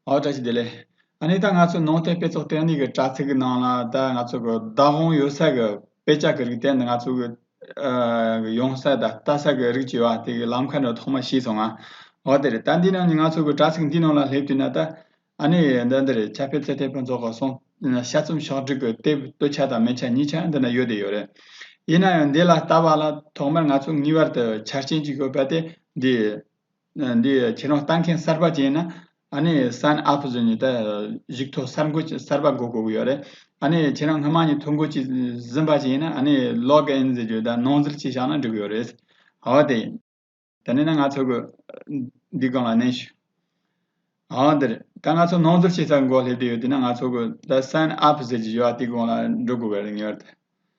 ཨོ་བཀྲ་ཤིས་བདེ་ལེགས། ཨ་ནི་ད་ང་ཚོའི་ནང་བསྟན་དཔེ་ཚོགས་སྟེང་ནས་ཀྱི་དྲ་ཚིགས་ཀྱི་ནང་ལ་ད་ང་ཚོ་གི་བདག་དབང་ཡོད་ས་གི་དཔེ་ཆ་གི་རིགས་བསྟན་ནི་ང་ཚོ་གི་གི་ཡོང་ས་ད་ལྟ་ས་གི་རིགས་བྱེད་པ་དེ་གི་ལམ་ཁ་འདི་ཐོག་མ་ཤེས་སོང་ང། ཨོ་དེ་རེད་ད་འདི་ནང་ནས་ང་ཚོ་གི་དྲ་ཚིགས་འདི་ནང་ལ་སླེབས་དུས་ན་ད་ཨ་ནི་འདི་འདི་རེད་ཆ་ཕེབས་ཚེ་དེ་ཕོན་ཚོགས་གི་སོང་ཤ་ཚོམ་ཤོག་སྒྲིག་གི་དེབ་སྟོད་ཆ་དང་མེ་ཆ་གཉིས་ཆ་འདི་ན་ཡོད་དེ་ཡོད་རེད། ཡིན་ན་ཡང་འདི་ལ་ལྟ་བ་ལ་ཐོག་མར་ང་ཚོ་ངེས་པར་དུ་ཆ་རྐྱེན་གཅིག་ཡོད་པ་དེ་འདི། འདི་ཁྱེད་རང་ལྟ་མཁན་གསར་པ་ཅན་ན་ཨ་ནི sign up བཟོས་ནས་ད་གཞིགས་ཐོག་གསར་འགོད་ཅིག་གསར་པ་དགོས་དགོས་ཀྱི་ཡོད་རེད་ཨ་ནི་ཁྱེད་རང་སྔོན་མ་ནས་ཐོ་འགོད་ཅིག་ཟིན་པ་ཅན་ན་ཨ་ནི log in ཟེར་གྱི་ད་ནང་ཟིལ་གཅིག་བཞག་ན་འགྲིག་གི་ཡོད་རེད་ཨ་དེ་ད་ནི་ན་ང་ཚོ་འདི་གང་ལ་གནས་ཞུ་ཨ་དེར་ད་ང་ཚོ་ནང་ཟིལ་གཅིག་ཟ་གི་འགོ་སླེབས་ཏེ་ཡོད་དེ་ན་ང་ཚོ་གོ་ད sign up ཟེར་གྱི་ཡོད་ཨ་དེ་གང་ལ་འགྲོ་དགོས་ཀྱི་རེད་ངེས་པར་དུ་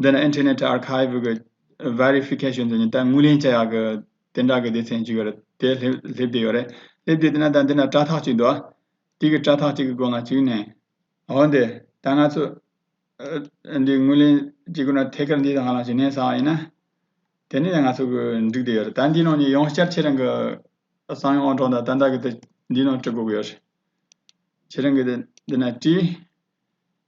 འདི་ནི Internet Archive གི Verification ཟེར་ནས་ད་དངུལ་ལེན་བྱ་ཡག་གི་དེ་འདྲ་གི་སྡེ་ཚན་ཅིག་ཡོད་རེད་དེ་སླེབས་བསྡད་ཡོད་རེད་སླེབས་བསྡད་འདུག་ན་ད་འདི་ན་དྲ་ཐག་ཅིག་འདུག་ཨ་དེ་གི་དྲ་ཐག་ཅིག་གི་སྒོ་ང་བྱུགས་ནས་འོ་འདི་ད་ང་ཚོ་འདི་དངུལ་ལེན་བྱེད་དགོས་ན་ཐད་ཀར་འདི་ད་ང་ལ་ཞུ་ནས་ཟ་བ་ཡིན་ན་དེ་ནས་ད་ང་ཚོ་གི་འགྲིག་བསྡད་ཡོད་རེད་ད་འདིའི་ནང་ནས་ཡང་བསྐྱར་ཁྱེད་རང་གི་གསང་ཡོང་ཨང་གྲངས་དང་ད་ལྟ་གི་འདི་འདིའི་ནང་དྲི་དགོས་ཀྱི་ཡོད་རེད་ཁྱེད་རང་གི་འདི་ན་བྲིས།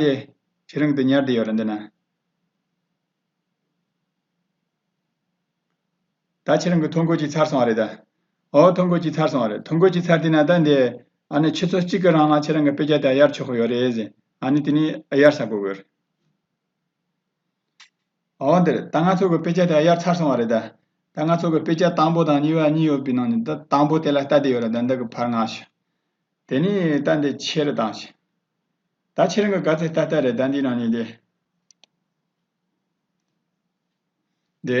དེ་ཁྱེད་རང་གི་དེ་ཉར་དེ་ཡོད་རེད་འདི་ན། ད་ཁྱེད་རང་གི་ཐོ་འགོད་ཀྱི་ཚར་སོང་བ་རེད་ད། འོ་ཐོ་འགོད་ཀྱི་ཚར་སོང་བ་རེད་ཐོ་འགོད་ཀྱི་ཚར་དེ་ན་ད་འདི། ཨ་ནི་ཁྱེད་ཚོ་གཅིག་གི་རང་ལ་ཁྱེད་རང་གི་དཔེ་ཆ་དེ་གཡར་ཆོག་གི་ཡོད་རེད་ཟེར། ཨ་ནི་དེ་ནི་གཡར་ས་དགོས་གི་ཡོད་རེད། འོ་འདིར་ད་ང་ཚོ་གི་དཔེ་ཆ་དེ་དབྱར་ཚར་སོང་བ་རེད་ད། ད་ང་ཚོ་གི་དཔེ་ཆ་དང་པོ་དང་གཉིས་པ་གཉིས་ཡོད་པའི་ནང་ནས་ད་དང་པོ་དེ་ལ་ལྟ་བསྡད་ཡོད་ལ་ད་འདི་གི་བར་ང་ཞིག། དེ་ནས་ལྟ་འདི་ཕྱི་རུ་བཏང་ཞིག། ད་ཁྱེད་རང་གི་ག་ཚད་ལྟ་ལྟ་རེད་ད་འདིའི་ནང་ནས་འདི།